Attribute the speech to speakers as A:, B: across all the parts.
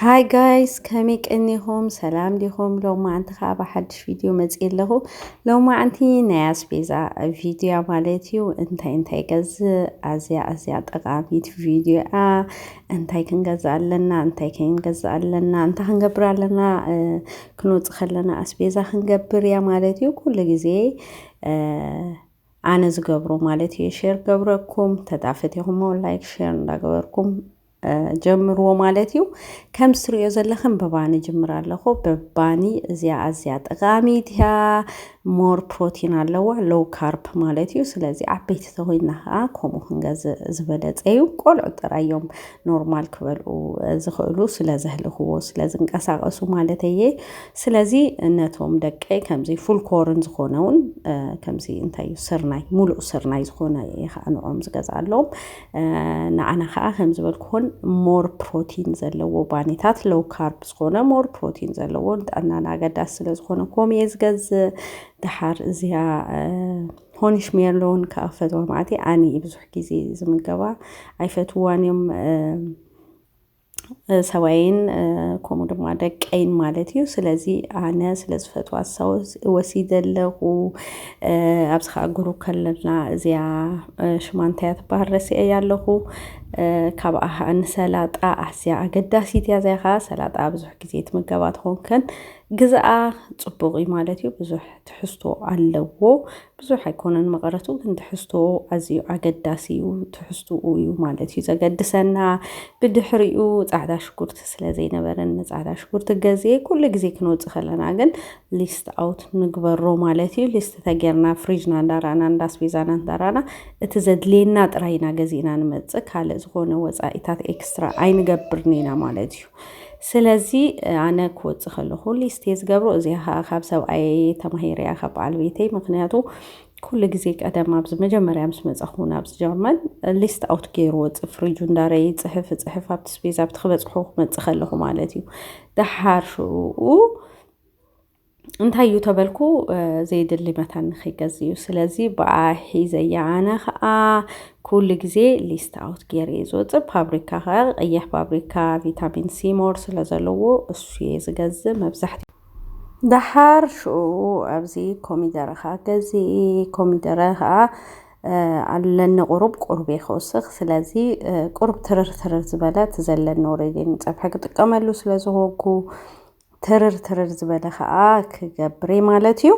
A: ሃይ ጋይስ ከመይ ቀኒኹም ሰላም ዲኹም? ሎማዓንቲ ከዓ ብሓድሽ ቪድዮ መፅእ ኣለኹ። ሎማዓንቲ ናይ ኣስቤዛ ቪድዮ እያ ማለት እዩ። እንታይ እንታይ ገዝእ ኣዝያ ኣዝያ ጠቃሚት ቪድዮ እያ። እንታይ ክንገዝእ ኣለና፣ እንታይ ከይንገዝእ ኣለና፣ እንታይ ክንገብር ኣለና እ፣ ክንወፅእ ከለና ኣስቤዛ ክንገብር እያ ማለት እዩ። ኩሉ ግዜ እ፣ ኣነ ዝገብሮ ማለት እዩ ሼር ገብረኩም ተዳፈት ይኹሞ ላይክ ሼር እንዳገበርኩም ጀምርዎ ማለት እዩ ከም ዝትሪኦ ዘለኽን ብባኒ ጅምር ኣለኹ ብባኒ እዚኣ ኣዝያ ጠቃሚት እያ ሞር ፕሮቲን ኣለዋ ሎው ካርፕ ማለት እዩ ስለዚ ዓበይቲ ተኮይና ከዓ ከምኡ ክንገዝእ ዝበለፀ እዩ ቆልዑ ጥራይ እዮም ኖርማል ክበልዑ ዝኽእሉ ስለ ዘህልኽዎ ስለ ዝንቀሳቀሱ ማለት እየ ስለዚ ነቶም ደቀይ ከምዚ ፉል ኮርን ዝኾነ እውን ከምዚ እንታይ እዩ ስርናይ ሙሉእ ስርናይ ዝኾነ እየ ከዓ ንዕኦም ዝገዝኣሎም ንዓና ከኣ ከም ዝበልኩኹን ሞር ፕሮቲን ዘለዎ ባኒታት ሎው ካርብ ዝኾነ ሞር ፕሮቲን ዘለዎ ንጥዕናና ኣገዳሲ ስለ ዝኾነ ኮም እየ ዝገዝእ ድሓር እዚኣ ሆኒሽ ሜርሎን ከዓ ፈትዋ ማዕቲ ኣነ ብዙሕ ግዜ ዝምገባ ኣይፈትዋን እዮም ሰባይን ከምኡ ድማ ደቀይን ማለት እዩ ስለዚ ኣነ ስለ ዝፈትዋ ሰው ወሲደ ኣለኹ ኣብዚ ከዓ ጉሩ ከለና እዚያ ሽማ እንታይ እያ ትበሃል ረሲዐ እያ ኣለኹ ካብኣ ከዓ ንሰላጣ ኣዝያ ኣገዳሲት እያ እዚኣ ከዓ ሰላጣ ብዙሕ ግዜ ትምገባ ተኾንክን ግዝኣ ፅቡቅ እዩ ማለት እዩ ብዙሕ ትሕዝቶ ኣለዎ ብዙሕ ኣይኮነን መቐረቱ ግን ትሕዝቶ ኣዝዩ ኣገዳሲ እዩ ትሕዝትኡ እዩ ማለት እዩ ዘገድሰና ብድሕሪኡ ፃዕዳ ሽጉርቲ ስለ ዘይነበረን ንፃዕዳ ሽጉርቲ ገዜ ኩሉ ግዜ ክንወፅእ ከለና ግን ሊስት ኣውት ንግበሮ ማለት እዩ ሊስት ተጌርና ፍሪጅና እንዳራእና እንዳስቤዛና እንዳራእና እቲ ዘድልየና ጥራይ ኢና ገዚእና ንመፅእ ካልእ ዝኾነ ወፃኢታት ኤክስትራ ኣይንገብርን ኢና ማለት እዩ ስለዚ ኣነ ክወጽእ ከለኹ ሊስትየ ዝገብሮ እዚኣ ከዓ ካብ ሰብኣየ ተማሂረያ ካብ በዓል ቤተይ ምክንያቱ ኩሉ ግዜ ቀደም ኣብዚ መጀመርያ ምስ መጻኹ ናብዚ ጀርመን ሊስት ኣውት ገይሩ ወጽእ ፍሪጁ እንዳረ ይጽሕፍ ይጽሕፍ ኣብቲ ስፔስ ኣብቲ ክበጽሑ ክመጽእ ከለኹ ማለት እዩ ደሓር ሽኡ እንታይ እዩ ተበልኩ ዘይድሊ መታን ንክይገዝ እዩ ስለዚ ብኣ ሒዘያ ኣነ ከዓ ኩሉ ግዜ ሊስት ኣውት ገይረ እዩ ዝወፅእ ፋብሪካ ከዓ ቀይሕ ፋብሪካ ቪታሚን ሲ ሞር ስለ ዘለዎ እሱ እየ ዝገዝእ መብዛሕትኡ ደሓር ሽኡ ኣብዚ ኮሚደረ ከዓ ገዚኢ ኮሚደረ ከዓ ኣለኒ ቁሩብ ቁሩብ እየ ክወስኽ ስለዚ ቁሩብ ትርር ትርር ዝበለ እቲ ዘለኒ ኦሬዲ ንፀብሒ ክጥቀመሉ ስለ ዝኾንኩ ትርር ትርር ዝበለ ከዓ ክገብርየ ማለት እዩ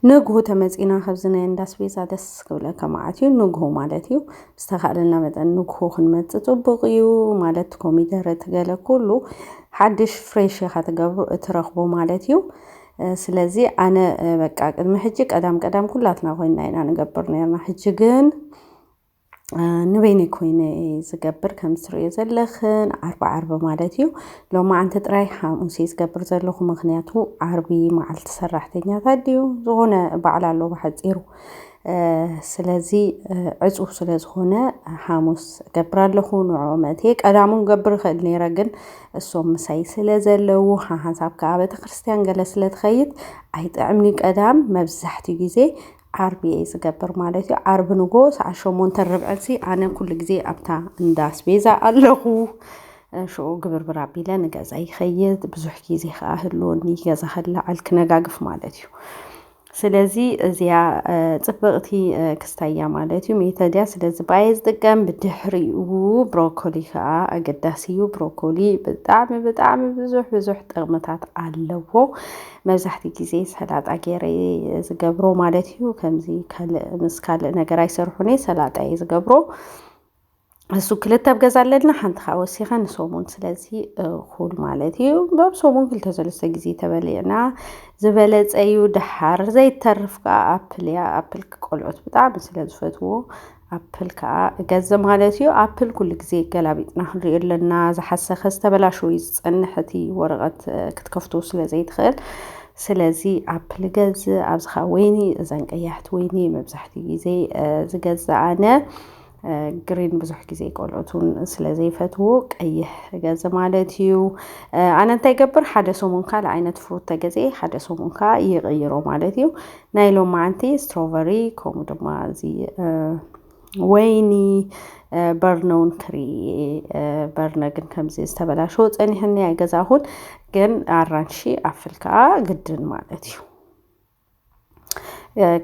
A: ንግሁ ተመፂና ከብዚ ናይ እንዳስቤዛ ደስ ክብለካ መዓት እዩ ንግሁ ማለት እዩ ዝተካእለና መጠን ንግሁ ክንመፅ ፅቡቅ እዩ ማለት ኮሚደረ ትገለ ኩሉ ሓድሽ ፍሬሽ ኢካ ትገብሩ እትረክቦ ማለት እዩ ስለዚ ኣነ በቃ ቅድሚ ሕጂ ቀዳም ቀዳም ኩላትና ኮይና ኢና ንገብር ነርና ሕጂ ግን ንበይነይ ኮይነ እየ ዝገብር ከም ትሪእዮ ዘለኽን ዓርቢ ዓርቢ ማለት እዩ ሎማዓንቲ ጥራይ ሓሙስ እየ ዝገብር ዘለኹ ምክንያቱ ዓርቢ መዓልቲ ሰራሕተኛታት ድዩ ዝኾነ በዓል ኣሎ ብሓፂሩ ስለዚ ዕፁው ስለ ዝኾነ ሓሙስ እገብር ኣለኹ ንዕኡ መእትየ ቀዳሙ ክገብር ይኽእል ነይረ ግን እሶም ምሳይ ስለ ዘለዉ ሓሓንሳብ ከዓ ቤተክርስትያን ገለ ስለ ትኸይድ ኣይጥዕምንዩ ቀዳም መብዛሕትኡ ግዜ ዓርቢ እየ ዝገብር ማለት እዩ። ዓርቢ ንጎ ሰዓት ሸሞንተ ርብዕሲ ኣነ ኩሉ ግዜ ኣብታ እንዳ ኣስቤዛ ኣለኹ። ሽዑ ግብርብር ኣቢለ ንገዛ ይኸይድ ብዙሕ ግዜ ከዓ ህልወኒ ገዛ ክለዓል ክነጋግፍ ማለት እዩ። ስለዚ እዚኣ ፅብቕቲ ክስታይ እያ ማለት እዩ። ሜተድያ ስለዚ ባየ ዝጥቀም ብድሕሪኡ ብሮኮሊ ከዓ ኣገዳሲ እዩ። ብሮኮሊ ብጣዕሚ ብጣዕሚ ብዙሕ ብዙሕ ጥቕምታት ኣለዎ። መብዛሕትኡ ግዜ ሰላጣ ገይረ እየ ዝገብሮ ማለት እዩ። ከምዚ ካልእ ምስ ካልእ ነገር ኣይሰርሑን እየ ሰላጣ እየ ዝገብሮ። እሱ ክልተ ኣብ ገዛ ኣለና ሓንቲ ከዓ ወሲኸ ንሰሙን ስለዚ እኹል ማለት እዩ በብ ሰሙን ክልተ ሰለስተ ግዜ ተበሊዕና ዝበለፀ እዩ። ደሓር ዘይተርፍ ከዓ ኣፕል እያ ኣፕል ቆልዑት ብጣዕሚ ስለ ዝፈትዎ ኣፕል ከኣ እገዘ ማለት እዩ። ኣፕል ኩሉ ግዜ ገላቢጥና ክንሪኦ ኣለና። ዝሓሰኸ ዝተበላሸወ እዩ ዝጸንሕ እቲ ወረቐት ክትከፍቶ ስለ ዘይትኽእል ስለዚ ኣፕል እገዝእ ኣብዚ ከዓ ወይኒ እዘን ቀያሕቲ ወይኒ መብዛሕትኡ ግዜ ዝገዝእ ኣነ ግሪን ብዙሕ ግዜ ቆልዑት እውን ስለ ዘይፈትዎ ቀይሕ እገዝ ማለት እዩ ኣነ እንታይ ገብር ሓደ ሰሙን ካልእ ዓይነት ፍሩት ተገዜ ሓደ ሰሙን ከዓ ይቕይሮ ማለት እዩ ናይ ሎማዓንቲ ስትሮቨሪ ከምኡ ድማ እዚ ወይኒ በርነውን ክሪ በርነ ግን ከምዚ ዝተበላሸ ፀኒሕኒ ኣይገዛኹን ግን ኣራንሺ ኣፍል ከዓ ግድን ማለት እዩ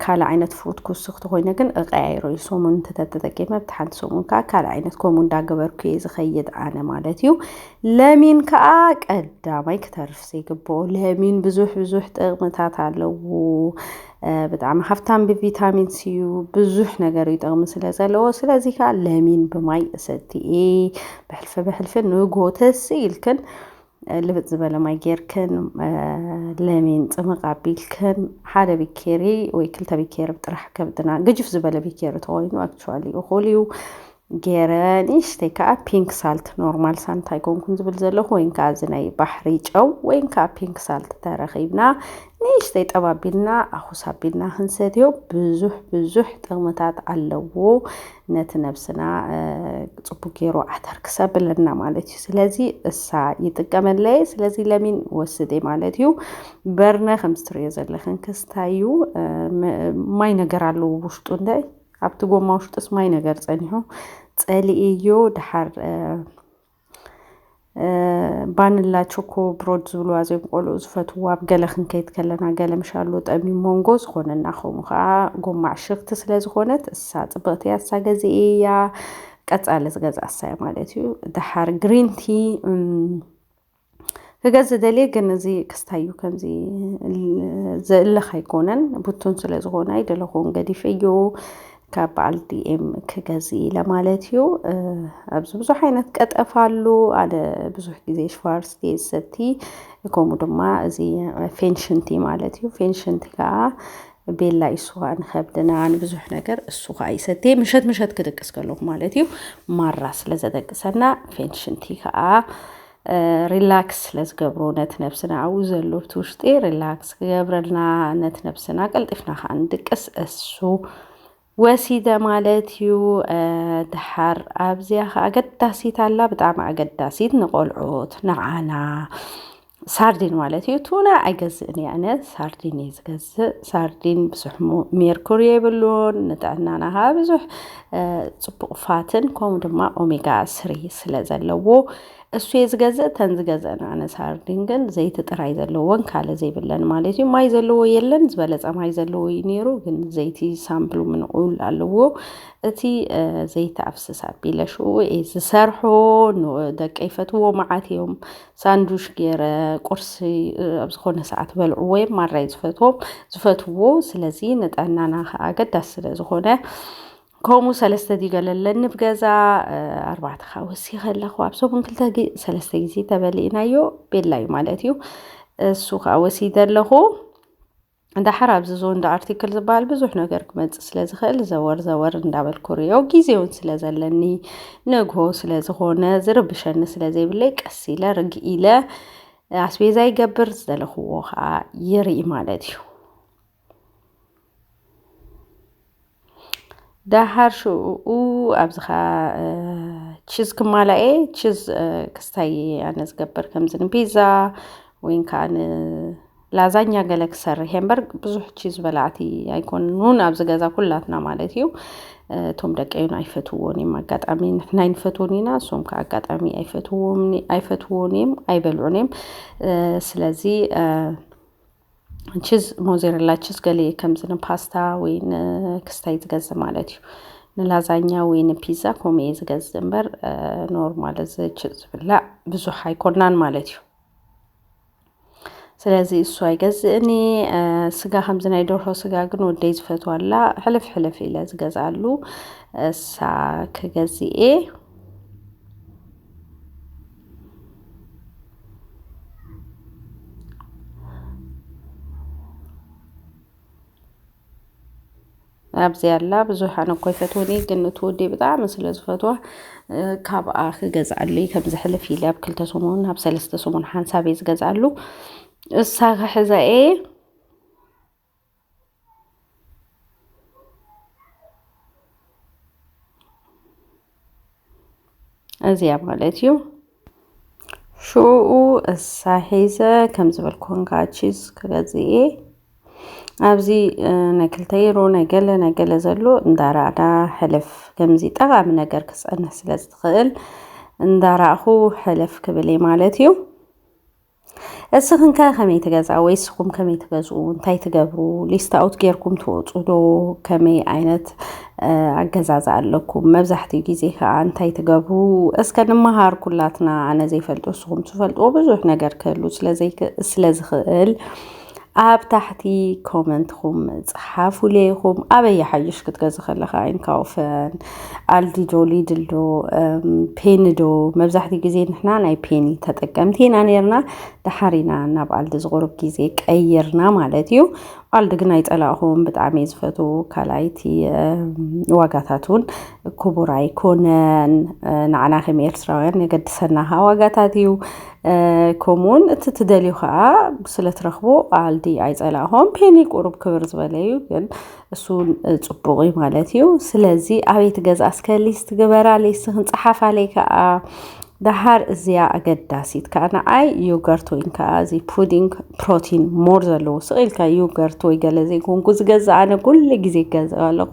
A: ካልእ ዓይነት ፍሩት ክውስኽ ተኮይነ ግን እቀያይሮ እዩ ሰሙን እንተተጠቂመ ብቲ ሓንቲ ሰሙን ከዓ ካልእ ዓይነት ከምኡ እንዳገበርኩ እየ ዝኸይድ ኣነ ማለት እዩ ለሚን ከዓ ቀዳማይ ክተርፍ ዘይግብኦ ለሚን ብዙሕ ብዙሕ ጥቕምታት ኣለዎ። ብጣዕሚ ሃፍታም ብቪታሚን ሲ እዩ ብዙሕ ነገር እዩ ጥቕሚ ስለ ዘለዎ ስለዚ ከዓ ለሚን ብማይ እሰትየ ብሕልፊ ብሕልፊ ንጎ ተስ ኢልክን ልብፅ ዝበለ ማይ ጌርክን ለሚን ፅምቕ ኣቢልክን ሓደ ቢኬሪ ወይ ክልተ ቢኬሪ ጥራሕ ከብድና ግጅፍ ዝበለ ቢኬሪ ተኮይኑ ኣክቹዋሊ እኹል እዩ። ጌረ ንእሽተይ ከኣ ፒንክ ሳልት ኖርማል ሳንት ኣይኮንኩን ዝብል ዘለኹ ወይን ከኣ እዚ ናይ ባሕሪ ጨው ወይን ከኣ ፒንክ ሳልት ተረኺብና ንእሽተይ ጠብ ኣቢልና ኣኹስ ኣቢልና ክንሰትዮ ብዙሕ ብዙሕ ጥቕምታት ኣለዎ ነቲ ነብስና ጽቡቅ ጌሩ ዓተር ክሰብለና ማለት እዩ ስለዚ እሳ ይጥቀመለይ ስለዚ ለሚን ወስደ ማለት እዩ በርነ ከም ስትሪዮ ዘለኽን ክስታዩ ማይ ነገር ኣለዎ ውሽጡ እንደ ኣብቲ ጎማ ውሽጥስ ማይ ነገር ጸኒሑ ጸሊእዮ ድሓር ባንላ ቾኮ ብሮድ ዝብልዋ ዘም ቆልኡ ዝፈትዎ ኣብ ገለ ክንከይድ ከለና ገለ ምሻሉ ጠሚ ሞንጎ ዝኾነና ከምኡ ከዓ ጎማ ዕሽኽቲ ስለ ዝኾነት እሳ ፅብቕቲ እያ እሳ ገዚ እያ ቀፃሊ ዝገዛ እሳይ ማለት እዩ ድሓር ግሪንቲ ክገዝ ዝደልየ ግን እዚ ክስታዩ ከምዚ ዝእለኽ ኣይኮነን ቡቱን ስለ ዝኾነ ኣይደለኹን ገዲፍ እዩ ካብ በዓል ዲኤም ክገዝ ኢለ ማለት እዩ ኣብዚ ብዙሕ ዓይነት ቀጠፍ ኣሉ ኣነ ብዙሕ ግዜ ሽፋርስ ዲየ ዝሰቲ ከምኡ ድማ እዚ ፌንሽንቲ ማለት እዩ ፌንሽንቲ ከዓ ቤላ ይስዋ ንኸብድና ንብዙሕ ነገር እሱ ከዓ ይሰቲ ምሸት ምሸት ክድቅስ ከለኹ ማለት እዩ ማራ ስለ ዘደቅሰና ፌንሽንቲ ከዓ ሪላክስ ስለ ዝገብሩ ነቲ ነብስና ኣብኡ ዘሎ እቲ ውሽጢ ሪላክስ ክገብረልና ነቲ ነብስና ቀልጢፍና ከዓ ንድቅስ እሱ ወሲደ ማለት እዩ ድሓር ኣብዚያ ከዓ ኣገዳሲት ኣላ ብጣዕሚ ኣገዳሲት ንቆልዑት ንዓና ሳርዲን ማለት እዩ ቱና ኣይገዝእን እየ ኣነ ሳርዲን እዩ ዝገዝእ ሳርዲን ብዙሕ ሜርኩሪ የብሉን ንጥዕናና ከዓ ብዙሕ ጽቡቕ ፋትን ከምኡ ድማ ኦሜጋ ስሪ ስለ ዘለዎ እሱ እየ ዝገዝእ እተን ዝገዝእን ኣነ ሳርዲን ግን ዘይቲ ጥራይ ዘለዎን ካልእ ዘይብለን ማለት እዩ ማይ ዘለዎ የለን ዝበለጸ ማይ ዘለዎ እዩ ነይሩ ግን ዘይቲ ሳምፕሉ ምንቑል ኣለዎ እቲ ዘይቲ ኣፍስስ ኣቢለ ሽኡ እየ ዝሰርሖ ደቀ ይፈትዎ መዓት እዮም ሳንዱሽ ገይረ ቁርሲ ኣብ ዝኾነ ሰዓት በልዕዎ እዮም ማራይ ዝፈትዎም ዝፈትዎ ስለዚ ንጥዕናና ከዓ ኣገዳሲ ስለ ዝኾነ ከምኡ ሰለስተ ዲገለለኒ ብገዛ ኣርባዕተ ከዓ ወሲኸ ኣለኹ ኣብ ሰሙን ክልተ ሰለስተ ግዜ ተበሊእናዮ ቤላ እዩ ማለት እዩ እሱ ከዓ ወሲደ ኣለኹ ዳሓር ኣብዚ ዞንዳ ኣርቲክል ዝበሃል ብዙሕ ነገር ክመፅእ ስለ ዝኽእል ዘወር ዘወር እንዳበልኩ ርዮ ግዜ እውን ስለ ዘለኒ ነግሆ ስለ ዝኾነ ዝርብሸኒ ስለ ዘይብለይ ቀስ ኢለ ርግእ ኢለ ኣስቤዛ ይገብር ዝደለኽዎ ከዓ ይርኢ ማለት እዩ። ደሃር ሽኡ ኣብዝኻ ቺዝ ክማላኤ ቺዝ ክስታይ እየ ኣነ ዝገብር ከምዚ ንፒዛ ወይን ከዓ ንላዛኛ ገለ ክሰርሕ እየ እምበር ብዙሕ ቺዝ በላዕቲ ኣይኮኑን ኣብዚ ገዛ ኩላትና ማለት እዩ። እቶም ደቀይን ኣይፈትዎን እዮም ኣጋጣሚ ንሕና ኣይንፈትዎን ኢና እሶም ከዓ ኣጋጣሚ ኣይፈትዎን ኣይፈትዎን እዮም ኣይበልዑን እዮም። ስለዚ ችዝ ሞዜረላ ችዝ ገሌ ከምዚ ንፓስታ ወይ ንክስታይ ዝገዝእ ማለት እዩ ንላዛኛ ወይ ንፒዛ ከምኡ እየ ዝገዝእ እምበር ኖርማል እዚ ችዝ ዝብላዕ ብዙሕ ኣይኮናን ማለት እዩ ስለዚ እሱ ኣይገዝእን ስጋ ከምዚ ናይ ደርሆ ስጋ ግን ወደይ ዝፈትዋላ ሕልፍ ሕልፍ ኢለ ዝገዝኣሉ እሳ ክገዝእ እየ ኣብዚ ኣላ ብዙሓን እኮ ይፈትውኒ ግን እቲ ወዲ ብጣዕሚ ስለ ዝፈትዋ ካብኣ ክገዝኣሉ እዩ ከምዚ ሕልፍ ኢለ ኣብ ክልተ ሰሙን ኣብ ሰለስተ ሰሙን ሓንሳብ እየ ዝገዝኣሉ እሳ ክሕዛ እየ እዚያ ማለት እዩ ሽዑኡ እሳ ሒዘ ከም ዝበልኩን ከዓ ቺዝ ክገዝእ እየ ኣብዚ ናይ ክልተ ዩሮ ናይ ገለ ናይ ገለ ዘሎ እንዳራእና ሕልፍ ከምዚ ጠቓሚ ነገር ክፀንሕ ስለ ዝትኽእል እንዳራእኹ ሕልፍ ክብል እየ ማለት እዩ እስኽን ከ ከመይ ትገዝኣ ወይ እስኹም ከመይ ትገዝኡ እንታይ ትገብሩ ሊስት ኣውት ጌርኩም ትወፁ ዶ ከመይ ዓይነት ኣገዛዝኣ ኣለኩም መብዛሕትኡ ግዜ ከዓ እንታይ ትገብሩ እስከ ንመሃር ኩላትና ኣነ ዘይፈልጦ እስኹም ትፈልጥዎ ብዙሕ ነገር ክህሉ ስለዝኽእል ኣብ ታሕቲ ኮመንትኹም ጽሓፉለይ ኢኹም። ኣበይ ይሓይሽ ክትገዝ ከለኻ ኢንካውፈን፣ ኣልዲዶ፣ ሊድልዶ፣ ፔንዶ መብዛሕትኡ ግዜ ንሕና ናይ ፔኒ ተጠቀምቲ ኢና ነርና። ድሓሪና ናብ ኣልዲ ዝቑርብ ግዜ ቀይርና ማለት እዩ። ኣልዲ ግን ኣይጸላእኹም፣ ብጣዕሚ እየ ዝፈትው። ካልኣይቲ ዋጋታት እውን ክቡር ኣይኮነን። ንዓና ከም ኤርትራውያን የገድሰና ዋጋታት እዩ። ከምኡውን እቲ ትደልዩ ከዓ ስለ ትረኽቦ ኣልዲ ኣይፀላእኹም ፔኒ ቁሩብ ክብር ዝበለ እዩ ግን እሱ ፅቡቅ እዩ ማለት እዩ ስለዚ ኣበይ ትገዝኣ እስከ ሊስት ግበራ ሊስትኽን ፀሓፋለይ ከዓ ደሃር እዚኣ ኣገዳሲት ከዓ ንዓይ ዮገርት ወይን ከዓ እዚ ፑዲንግ ፕሮቲን ሞር ዘለዎ ስቕ ኢልካ ዮገርት ወይ ገለ ዘይኮንኩ ዝገዛ ኣነ ኩሉ ግዜ ይገዝኦ ኣለኹ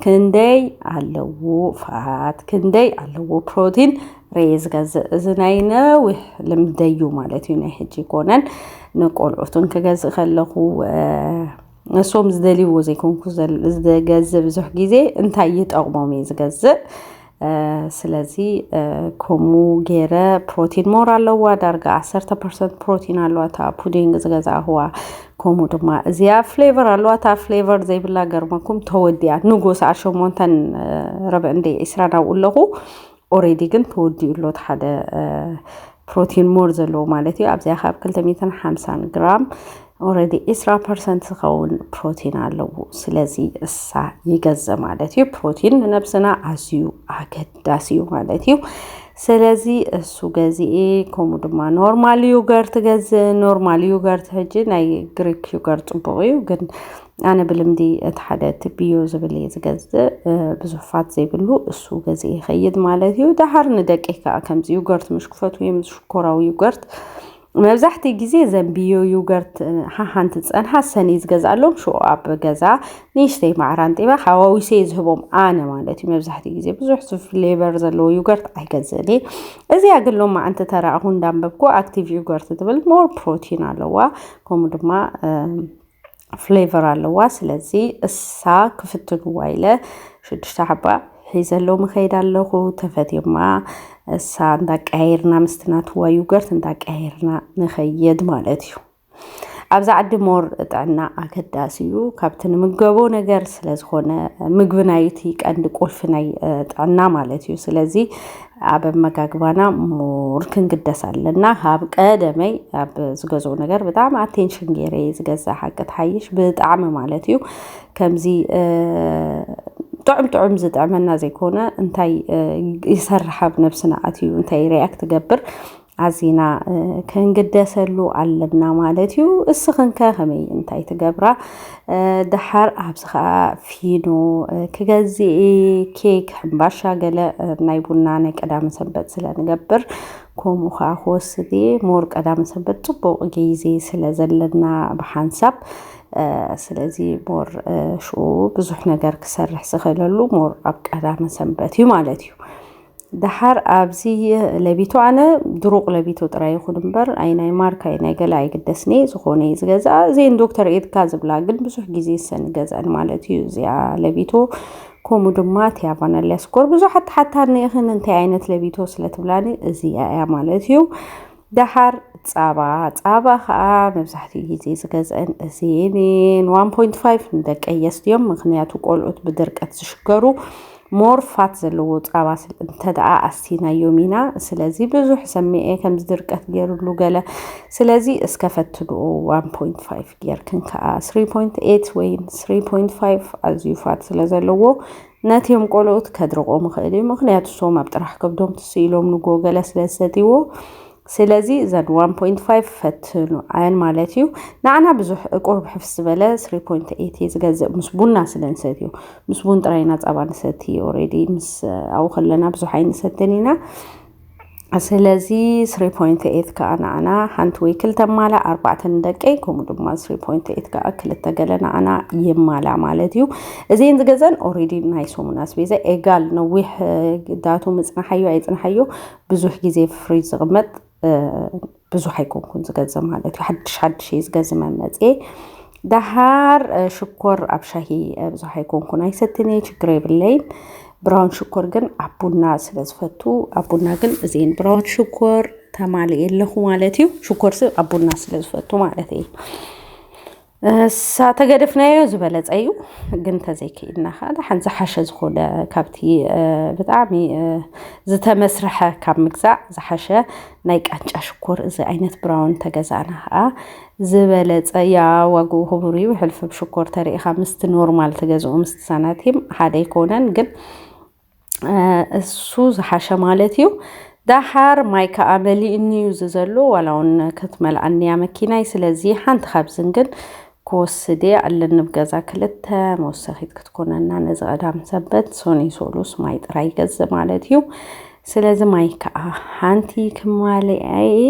A: ክንደይ ኣለዎ ፋት ክንደይ ኣለዎ ፕሮቲን ረየ ዝገዝእ እዚ ናይ ነዊሕ ልምደዩ ማለት እዩ ናይ ሕጂ ኮነን ንቆልዑትን ክገዝእ ከለኹ እሶም ዝደልይዎ ዘይኮንኩ ዝገዝእ ብዙሕ ግዜ እንታይ ይጠቕሞም እየ ዝገዝእ ስለዚ ከምኡ ገይረ ፕሮቲን ሞር ኣለዋ ዳርጋ ዓሰርተ ፐርሰንት ፕሮቲን ኣለዋ እታ ፑዲንግ ዝገዛእኹዋ ከምኡ ድማ እዚኣ ፍሌቨር ኣለዋ እታ ፍሌቨር ዘይብላ ገርመኩም ተወዲያ ንጎስ ዓሸሞንተን ረብዕንደ ዒስራ ናብኡ ኣለኹ ኦሬዲ ግን ተወዲኡ ኣሎ እቲ ሓደ ፕሮቲን ሞር ዘለዎ ማለት እዩ ኣብዚኣ ካብ 250 ግራም ኦረዲ 20 ፐርሰንት ዝኸውን ፕሮቲን ኣለዎ ስለዚ እሳ ይገዘ ማለት እዩ ፕሮቲን ንነብስና ኣዝዩ ኣገዳሲ እዩ ማለት እዩ ስለዚ እሱ ገዚኤ ከምኡ ድማ ኖርማል ዩገርት ገዝ ኖርማል ዩገርት ሕጂ ናይ ግሪክ ዩገርት ፅቡቅ እዩ ግን ኣነ ብልምዲ እቲ ሓደ ትብዮ ዝብል እየ ዝገዝእ ብዙሕ ፋት ዘይብሉ እሱ ገዝእ ይኸይድ ማለት እዩ ደሃር ንደቂ ከዓ ከምዚ ዩገርት ምሽ ክፈት ወይም ሽኮራዊ ዩገርት መብዛሕቲ ግዜ ዘንብዮ ዩገርት ሓሓንቲ ዝፀንሓ ሰኒ ዝገዝኣሎም ሽኡ ኣብ ገዛ ንእሽተይ ማዕራን ጢባ ሓዋዊሰ ዝህቦም ኣነ ማለት እዩ መብዛሕቲ ግዜ ብዙሕ ፍሌቨር ዘለዎ ዩገርት ኣይገዝእን እየ እዚኣ ግን ሎማ ኣንቲ ተራእኹ እንዳንበብኩ ኣክቲቭ ዩገርት ትብል ሞር ፕሮቲን ኣለዋ ከምኡ ድማ ፍሌቨር ኣለዋ ስለዚ እሳ ክፍትንዋ ኢለ ሽዱሽተ ሓባ ሒዘለዉ ምኸይድ ኣለኹ ተፈትየማ እሳ እንዳቀያየርና ምስቲ ናትዋ ዩገርት እንዳቀያየርና ንኸየድ ማለት እዩ ኣብዚ ዓዲ ሞር ጥዕና ኣገዳሲ እዩ ካብቲ ንምገቦ ነገር ስለዝኾነ ምግቢ ናይቲ ቀንዲ ቁልፊ ናይ ጥዕና ማለት እዩ ስለዚ ኣብ ኣመጋግባና ሙር ክንግደስ ኣለና ካብ ቀደመይ ኣብ ዝገዝኡ ነገር ብጣዕሚ ኣቴንሽን ገይረ እየ ዝገዝእ ሓቂ ትሓይሽ ብጣዕሚ ማለት እዩ ከምዚ ጥዑም ጥዑም ዝጥዕመና ዘይኮነ እንታይ ይሰርሕ ኣብ ነብስና ኣትዩ እንታይ ሪያክት ትገብር ኣዚና ክንግደሰሉ ኣለና ማለት እዩ። እስኽንከ ከመይ እንታይ ትገብራ? ደሓር ኣብዚ ከዓ ፊኖ ክገዝኢ ኬክ፣ ሕምባሻ ገለ ናይ ቡና ናይ ቀዳመ ሰንበት ስለንገብር ከምኡ ከዓ ክወስድ እየ ሞር ቀዳመ ሰንበት ፅቡቅ ግዜ ስለ ዘለና ብሓንሳብ ስለዚ ሞር ሽኡ ብዙሕ ነገር ክሰርሕ ዝኽእለሉ ሞር ኣብ ቀዳመ ሰንበት እዩ ማለት እዩ። ደሓር ኣብዚ ለቢቶ ኣነ ድሩቕ ለቢቶ ጥራይ ይኹን እምበር ኣይ ናይ ማርክ ኣይ ናይ ገለ ኣይግደስኒ ዝኾነ እዩ ዝገዝኣ እዚን ዶክተር ኤድካ ዝብላ ግን ብዙሕ ግዜ ሰን ገዝኣን ማለት እዩ እዚኣ ለቢቶ ከምኡ ድማ እቲ ኣቫናልያ ስኮር ብዙሓት ተሓታኒ ኢኽን እንታይ ዓይነት ለቢቶ ስለ ትብላኒ እዚኣ እያ ማለት እዩ ደሓር ፃባ ፃባ ከዓ መብዛሕትኡ ግዜ ዝገዝአን እዚን ዋን ፖይንት ፋይቭ ንደቂ ኣየስት እዮም ምክንያቱ ቆልዑት ብድርቀት ዝሽገሩ ሞር ፋት ዘለዎ ፃባ እንተደኣ ኣስቲናዮም ኢና ስለዚ ብዙሕ ሰሚዐ ከምዚ ድርቀት ገይሩሉ ገለ ስለዚ እስከ ፈትንኡ ዋን ፖይንት ፋይቭ ጌርክን ከዓ ስሪ ፖይንት ኤት ወይም ስሪ ፖይንት ፋይቭ ኣዝዩ ፋት ስለ ዘለዎ ነቲም ቆልኡት ከድርቆም ይኽእል እዩ ምክንያቱ ሶም ኣብ ጥራሕ ከብዶም ትስ ኢሎም ንጎ ገለ ስለ ዝሰትይዎ ስለዚ እዘን 1.5 ፈትኑ ኣየን ማለት እዩ ንዓና ብዙሕ እቁርብ ሕፍስ ዝበለ 3.8 ዝገዝእ ምስ ቡና ስለ ንሰትዩ ምስ ቡን ጥራይና ፃባ ንሰቲ ኦሬዲ ምስ ኣብኡ ከለና ብዙሕ ኣይንሰትን ኢና ስለዚ 3.8 ከኣ ንኣና ሓንቲ ወይ ክልተ ማላ ኣርባዕተ ንደቀይ ከምኡ ድማ 3.8 ከኣ ክልተ ገለ ንኣና ይማላ ማለት እዩ እዚን ዝገዘን ኦሬዲ ናይ ሰሙን ኣስቤዛ ኤጋል ነዊሕ ዳቱ ምፅናሓዮ ኣይፅናሓዮ ብዙሕ ግዜ ፍሪጅ ዝቕመጥ ብዙሕ ኣይኮንኩን ዝገዝ ማለት እዩ ሓድሽ ሓድሽ እየ ዝገዝ መመፅኤ ደሃር ሽኮር ኣብ ሻሂ ብዙሕ ኣይኮንኩን ኣይሰትን እየ ችግር የብለይን ብራውን ሽኮር ግን ኣብ ቡና ስለ ዝፈቱ ኣብ ቡና ግን እዚን ብራውን ሽኮር ተማሊ የለኹ ማለት እዩ ሽኮር ስ ኣብ ቡና ስለ ዝፈቱ ማለት እዩ እሳ ተገደፍናዮ ዝበለፀ እዩ ግን ተዘይክኢልና ከዓ ደሓን ዝሓሸ ዝኾነ ካብቲ ብጣዕሚ ዝተመስርሐ ካብ ምግዛእ ዝሓሸ ናይ ቃንጫ ሽኮር እዚ ዓይነት ብራውን ተገዛእና ከዓ ዝበለፀ ያ ዋግኡ ክቡር እዩ ሕልፍብ ሽኮር ተሪኢኻ ምስቲ ኖርማል ትገዝኡ ምስቲ ሳናቲም ሓደ ኣይኮነን ግን እሱ ዝሓሸ ማለት እዩ ዳሓር ማይ ከዓ መሊእኒ እዩ እዚ ዘሎ ዋላ እውን ክትመልኣኒ እያ መኪናይ ስለዚ ሓንቲ ካብዝን ግን ክወስድ እየ ኣለኒ ኣብ ገዛ ክልተ መወሰኺት ክትኮነና ነዚ ቀዳም ሰንበት ሶኒ ሶሉስ ማይ ጥራይ ይገዝእ ማለት እዩ ስለዚ ማይ ከዓ ሓንቲ ክማልኣ እየ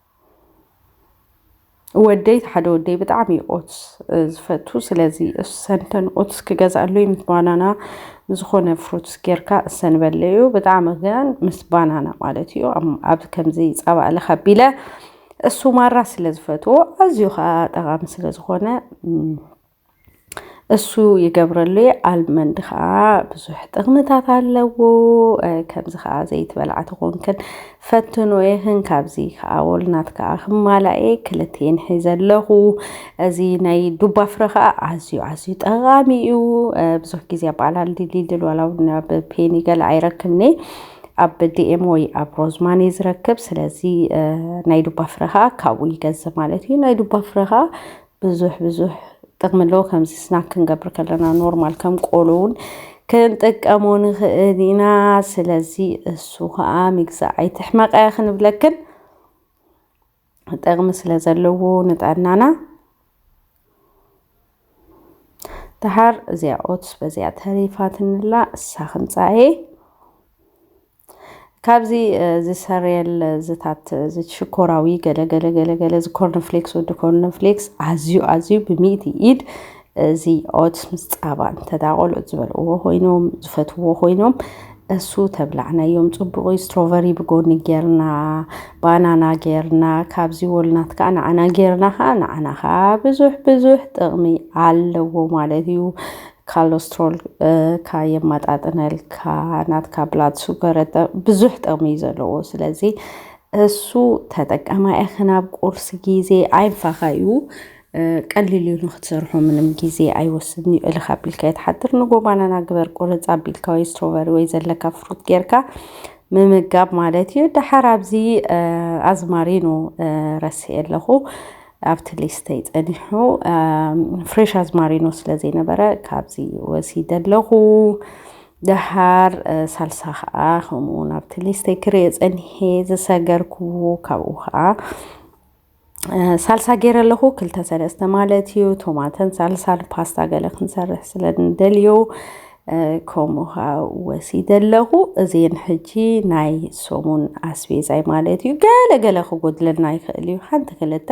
A: ወደይ እቲ ሓደ ወደይ ብጣዕሚ እዩ ኦትስ ዝፈቱ ስለዚ እሰንተን ኦትስ ክገዝኣሉ እዩ ምስ ባናና ዝኾነ ፍሩትስ ጌርካ እሰን በለ እዩ ብጣዕሚ ግን ምስ ባናና ማለት እዩ ኣብ ከምዚ ፃባ እልኽ ኣቢለ እሱ ማራ ስለ ዝፈትዎ ኣዝዩ ከዓ ጠቃሚ ስለ ዝኾነ እሱ ይገብረሉ እየ ኣልመንድ ከዓ ብዙሕ ጥቕምታት ኣለዎ ከምዚ ከዓ ዘይትበልዓ ተኾንክን ፈትኖ የኽን ካብዚ ከዓ ወልናት ከዓ ክማላእ እየ ክልቴን ሒዘ ኣለኹ እዚ ናይ ዱባ ፍረ ከዓ ኣዝዩ ኣዝዩ ጠቓሚ እዩ ብዙሕ ግዜ ኣብ ኣላል ድልድል ዋላ እውን ኣብ ፔኒ ገለ ኣይረክብኒ ኣብ ዲኤም ወይ ኣብ ሮዝማን እዩ ዝረክብ ስለዚ ናይ ዱባ ፍረ ከዓ ካብኡ ይገዝእ ማለት እዩ ናይ ዱባ ፍረ ከዓ ብዙሕ ብዙሕ ጥቕሚ ኣለዎ። ከምዚ ስናክ ክንገብር ከለና ኖርማል ከም ቆሎ እውን ክንጥቀሞ ንኽእል ኢና። ስለዚ እሱ ከዓ ምግዛእ ኣይትሕመቐ እያ ክንብለክን ጥቕሚ ስለ ዘለዎ ንጥዕናና ደሓር እዚኣ ኦትስ በዚኣ ተሪፋትንላ እሳ ክንፃኤ ካብዚ እዚ ሰሬል ዝታት እዚ ሽኮራዊ ገለ ገለ ገለ ገለ እዚ ኮርንፍሌክስ ወዲ ኮርንፍሌክስ ኣዝዩ ኣዝዩ ብሚእቲ ኢድ እዚ ኦትስ ምስ ፃባ እንተ ቆልዑት ዝበልዕዎ ኮይኖም ዝፈትዎ ኮይኖም እሱ ተብላዕናዮም ጽቡቕ ስትሮቨሪ ብጎኒ ጌርና ባናና ጌርና ካብዚ ወልናት ከዓ ንዓና ጌርና ከዓ ንዓና ከዓ ብዙሕ ብዙሕ ጥቕሚ ኣለዎ ማለት እዩ ካሎስትሮልካ የማጣጥነልካ ናትካ ብላድ ሱገር ብዙሕ ጥቕሚ እዩ ዘለዎ ስለዚ እሱ ተጠቀማ ኢኺ ናብ ቁርሲ ግዜ ኣይንፋኻ እዩ ቀሊል እዩ ንክትሰርሖ ምንም ግዜ ኣይወስድን እዩ እልካ ኣቢልካ የትሓድር ንጎ ባናና ግበር ቁርፅ ኣቢልካ ወይ ስትሮበሪ ወይ ዘለካ ፍሩት ጌርካ ምምጋብ ማለት እዩ ደሓር ኣብዚ ኣዝማሪኖ ረሲኤ ኣለኹ ኣብቲ ሊስተይ ጸኒሑ ፍሬሽ ኣዝማሪኖ ስለ ዘይነበረ ካብዚ ወሲደ ኣለኹ ደሃር ሳልሳ ከዓ ከምኡ ናብቲ ሊስተይ ክርእ ጸኒሐ ዝሰገርኩዎ ካብኡ ከዓ ሳልሳ ገይረ ኣለኹ ክልተ ሰለስተ ማለት እዩ ቶማተን ሳልሳን ፓስታ ገለ ክንሰርሕ ስለ ንደልዮ ከምኡ ከዓ ወሲደ ኣለኹ እዚን ሕጂ ናይ ሰሙን ኣስቤዛይ ማለት እዩ ገለ ገለ ክጎድለና ይኽእል እዩ ሓንቲ ክልተ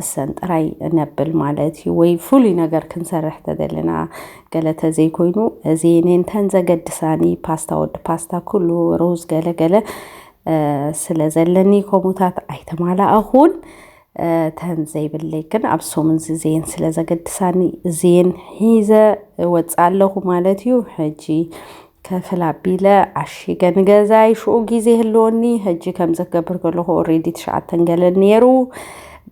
A: እሰን ጥራይ ነብል ማለት እዩ ወይ ፍሉይ ነገር ክንሰርሕ ተደለና ገለ ተዘይኮይኑ እዚን እንተን ዘገድሳኒ ፓስታ ወዲ ፓስታ ኩሉ ሩዝ ገለ ገለ ስለ ዘለኒ ከምኡታት ኣይተማላእኹን ተን ዘይብለይ ግን ኣብ ሰሙንዚ ዘየን ስለ ዘገድሳኒ ዘየን ሒዘ ወፅ ኣለኹ ማለት እዩ ሕጂ ከፍል ኣቢለ ዓሺገ ንገዛይ ሽኡ ግዜ ህልወኒ ሕጂ ከምዚ ክገብር ከለኹ ኦሬዲ ትሽዓተን ገለ ነይሩ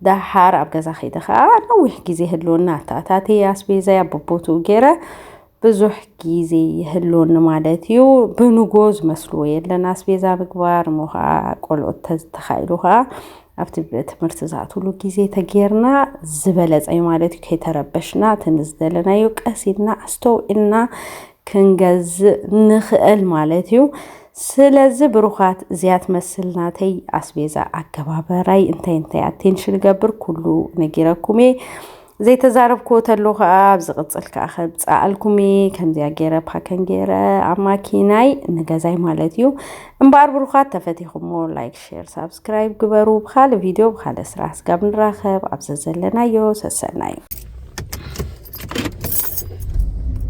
A: ደሓር ኣብ ገዛ ከይደ ከዓ ነዊሕ ግዜ ህልወኒ ኣተኣታትየ ኣስቤዛይ ኣቦቦትኡ ገይረ ብዙሕ ግዜ ይህልወኒ ማለት እዩ ብንጎ ዝመስልዎ የለን ኣስቤዛ ምግባር እሞ ከዓ ቆልዑት ተዝተኻኢሉ ከዓ ኣብቲ ትምህርቲ ዝኣትሉ ግዜ ተጌርና ዝበለፀ እዩ ማለት እዩ ከይተረበሽና እቲ ንዝደለናዮ ቀስ ኢልና ኣስተውዒልና ክንገዝእ ንኽእል ማለት እዩ ስለዚ ብሩኻት እዚኣ ትመስል ናተይ ኣስቤዛ ኣገባበራይ እንታይ እንታይ ኣቴንሽን ገብር ኩሉ ነጊረኩም እየ ዘይተዛረብክዎ ተሎ ከኣ ኣብ ዝቕጽል ከኣ ከብጽኣልኩም እየ ከምዚኣ ገይረ ፓከን ገይረ ኣብ ማኪናይ ንገዛይ ማለት እዩ እምበኣር ብሩኻት ተፈቲኹሞ ላይክ ሼር ሳብስክራይብ ግበሩ ብካልእ ቪድዮ ብካልእ ስራሕ ስጋብ ንራኸብ ኣብ ዘዘለናዮ ሰሰናዩ